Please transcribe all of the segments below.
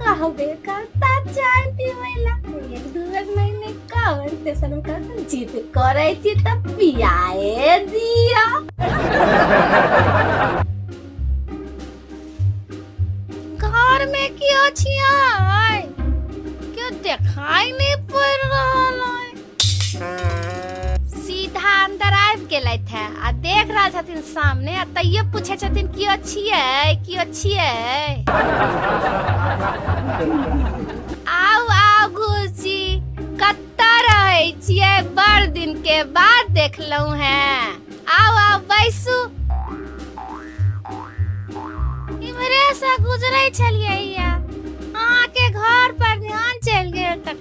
कहबे करता चाय पीवे ला एक दू बेर मैंने कहल ते सनम का जीत करे छी त पियाए दिया घर में की अछि आय के देखाई नहीं पड़ रहल सीधा अंदर आबि गेलथि है आ देख रहल छथिन सामने आ तैयो पूछे छथिन कियो छियै कियो छियै आउ आउ घुसी कतऽ रहै छियै बड़ दिन के बाद देखलहुं हैं आउ आउ बैसू इम्हरे से गुजरे छलियै अहाँके घर पर ध्यान चलि गेल तऽ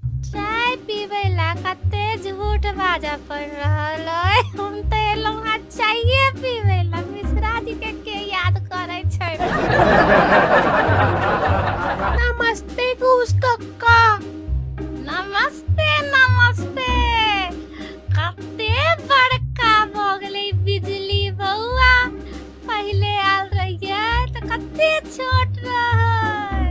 चाय पीबे ला कते झूठ बाजा पड़ रहल है हम तो एलहुँ हाँ चाये पीबे ला मिश्रा जी के के याद करे छै नमस्ते घूस कक्का नमस्ते नमस्ते कते बड़का भ गेलै बिजली बौआ पहिले आयल रहियै तऽ कते छोट रहै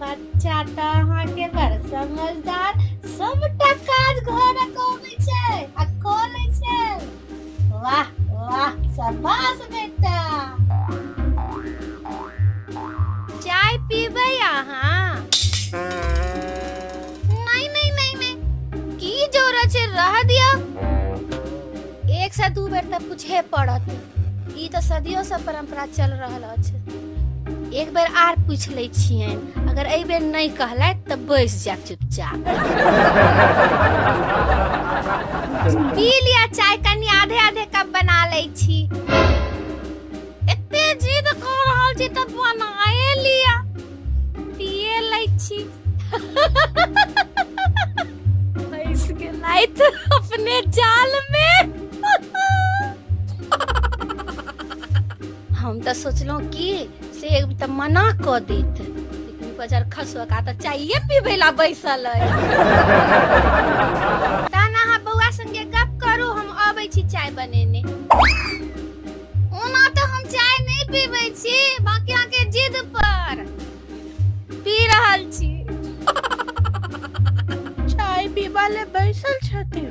बच्चा तऽ अहाँके बड़ समझदार सबटा काज घरक अबै छै आ कऽ लै छै वाह वाह शाबाश बेटा चाय पीबै अहाँ नहीं नहीं नहीं नहीं की जरूरत छै रह दिया एक से दू बेर तऽ पूछे पड़त ई तऽ सदियों से परंपरा चल रहल एक बेर आर पूछ ले छियनि अगर एहि बेर नहि कहलथि तऽ बैस जायब चुपचाप पी लिअ चाय कनि आधे आधे कप बना ले छी एते जिद कऽ रहल छी तऽ बनाए लिअ पिए लै छी फंस गेलथि अपने जाल में हम तऽ सोचलहुँ कि से एक तऽ मना कऽ देत लेकिन बजर खसुआ तऽ चाइए पीबै ला बैसल अइ तहन अहाँ बौआ संगे गप करू हम अबै छी चाय बनेने ओना तऽ हम चाय नहि पीबै छी बाकी अहाँके जिद पर पी रहल छी चाय पीबा ले बैसल छथिन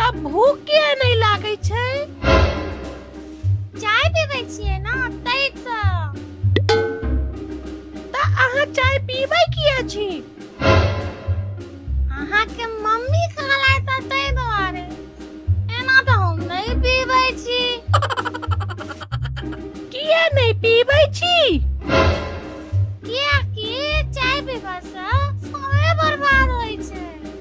तब भूख किए नहि लागै छै चाय पीबै छियै ना तै त तऽ अहाँ चाय पीबै किए छी अहाँके मम्मी कहलाइ त तै दुआरे एना तऽ हम नहि पीबै छी किए नहि पीबै छी किएकि चाय पीबा से समय बर्बाद होइ छै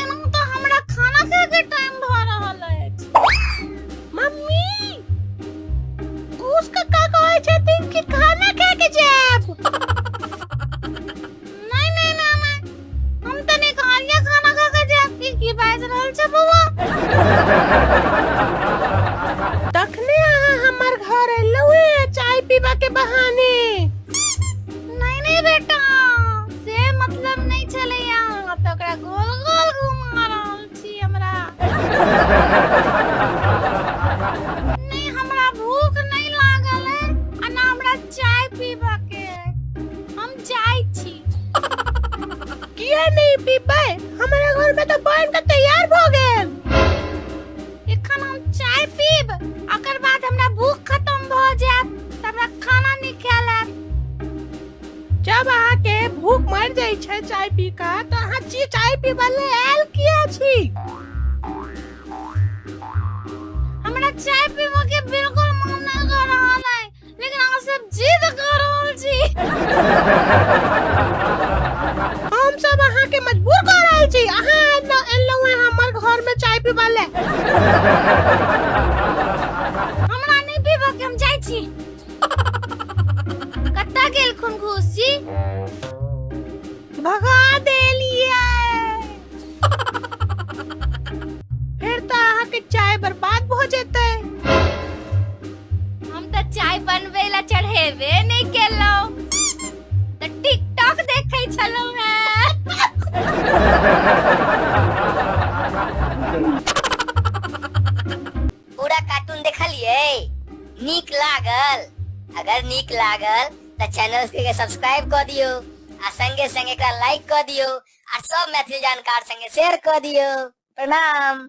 एना तऽ हमरा खाना खाए के टाइम भऽ रहल अछि मम्मी घूस के का कहै छथिन कि खाना खाए के जाएब नहीं नहीं मामा हम तो नहीं खा लिया खाना खा के जाएब फिर की बाज रहल छै बौआ तखने अहाँ हमर घर एलहुँ चाय पीबा के बहाने नहीं नहीं बेटा से मतलब नहीं चले यहाँ तो ओकरा गोल गोल घुमा रहल छी हमरा नहीं हमरा भूख नहीं लागल है आ ना हमरा चाय पीबा के है। हम जाई छी किया नहीं पीबै हमारा घर में तो बन के तैयार भ गेल एखन हम चाय पीब ओकर बाद हमरा भूख खत्म भ जायत त हमरा खाना निकाल आयत जब अहाँ के भूख मर जाय छै चाय पी का त अहाँ ची चाय पीबे ले आयल किया छी हमरा चाय पीबो के बिल्कुल लेकिन अहाँ सब जिद कऽ रहल छी हम सब अहाँ के मजबूर कऽ रहल छी अहाँ एलो एलो हैं हमर घर में चाय पीबा ले हमरा नहीं पीबा के हम जाइ छी कत्ता गेल खुनखुश जी भगा दे फिर तो अहाँ के चाय बर्बाद भ जेते हम तो चाय बनवे ला चढ़ेबे नहीं केलो तो टिकटॉक देखे छलो है पूरा कार्टून देखलिए नीक लागल अगर नीक लागल तो चैनल के सब्सक्राइब कर दियो आ संगे संगे एकरा लाइक कर दियो आ सब मैथिली जानकार संगे शेयर क दियो प्रणाम